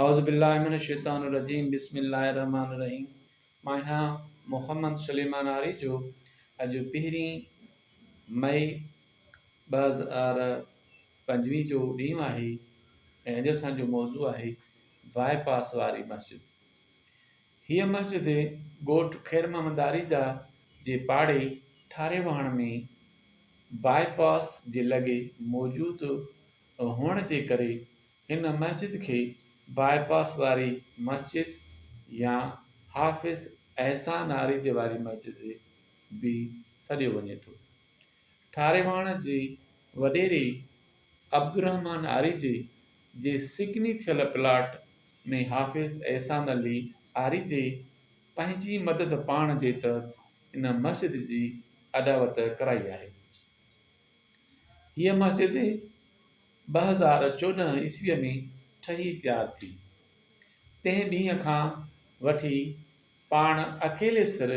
اعوذ باللہ من الشيطان الرجيم بسم الله الرحمٰن الرحيم مان آهيان محمد سليمان آريجو اڄ پهرين مئي ٻه هزار پنجويهه جو ڏينهن آهي ۽ اڄ اسان جو موضوع آهي باء پاس واري مسجد هيء مسجد ڳوٺ خير محمد آريجا جي پاڙي ٺاري واهڻ ۾ باء پاس جي لڳي موجود هئڻ جي ڪري هن مسجد کي باء پاس واري مسجد يا حافظ احسان آريجي واري مسجد به سڏيو وڃي ٿو. ٺاريواڻ جي وڏيري عبدالرحمان آريجي جي سڪني ٿيل پلاٽ ۾ حافظ احسان علي آريجي پنهنجي مدد پاڻ جي تحت ان مسجد جي اڏاوت ڪرائي آهي. هيء مسجد ٻه هزار چوڏهن عيسويء ۾ ٺهي تيار ٿي. تنهن ڏينهن کان وٺي پاڻ اڪيلي سر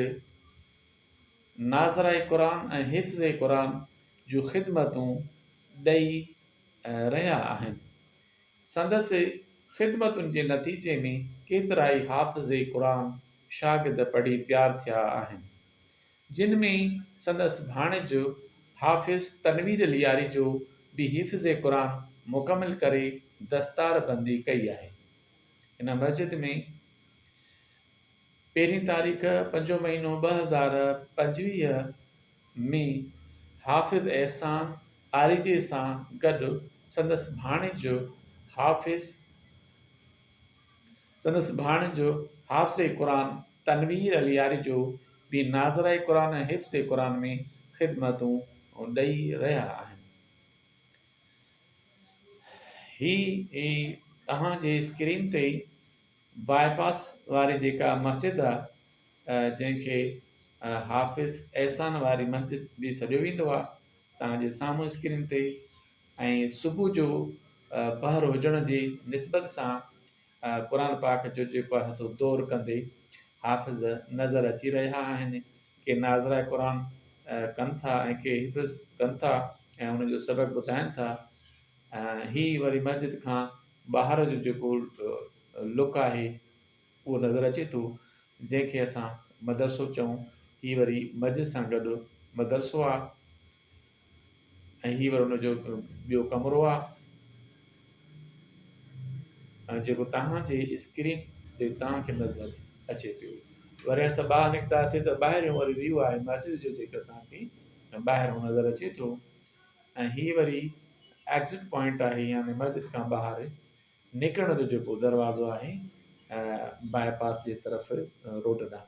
ناظره قرآن ۽ حفظ قرآن جون خدمتون ڏئي رهيا آهن. سندس خدمتن جي نتيجي ۾ ڪيترائي حافظ قرآن شاگرد پڙهي تيار ٿيا آهن. جن ۾ سندس ڀاڻيج حافظ تنوير لياري جو به حفظ قرآن مڪمل ڪري دستار بندي ڪئي آهي. هن مسجد ۾ پهرين تاريخ پنجون مهينو ٻه هزار پنجويهه ۾ حافظ احسان آريجي سان گڏ سندس ڀاڻيج حافظ سندس ڀاڻج حافظ قرآن تنوير علي آريجو به ناظره قرآن ۽ حفظ قرآن ۾ خدمتون ڏئي رهيا آهن. هي توهان جي اسڪرين تي باء پاس واري جيڪا مسجد آهي جنهن کي حافظ احسان واري مسجد به سڏيو ويندو آهي توهان جي سامهون اسڪرين تي ۽ صبح جو پهر هجڻ جي نسبت سان قرآن پاڪ جو جيڪو آهي سو دور ڪندي حافظ نظر اچي رهيا آهن. ڪي ناظره قرآن ڪن ٿا ۽ ڪي حفظ ڪن ٿا ۽ ان جو سبق ٻڌائن ٿا. هي وري مسجد کان ٻاهر جو جيڪو لڪ آهي اهو نظر اچي ٿو جنهن کي اسان مدرسو چئون. هي وري مسجد سان گڏ مدرسو آهي. ۽ هي وري ان جو ٻيو ڪمرو آ ۽ جيڪو توهان جي اسڪرين تي توهان کي نظر اچي پيو وري اسان ٻاهر نڪتاسي ته ٻاهريون وري ويو آهي مسجد جو جيڪو اسان کي ٻاهرون نظر اچي ٿو ۽ هي وري ايگزٽ پوائنٽ آهي يعني مسجد کان ٻاهر نڪرڻ جو جيڪو دروازو آهي باء پاس جي طرف روڊ ڏانهن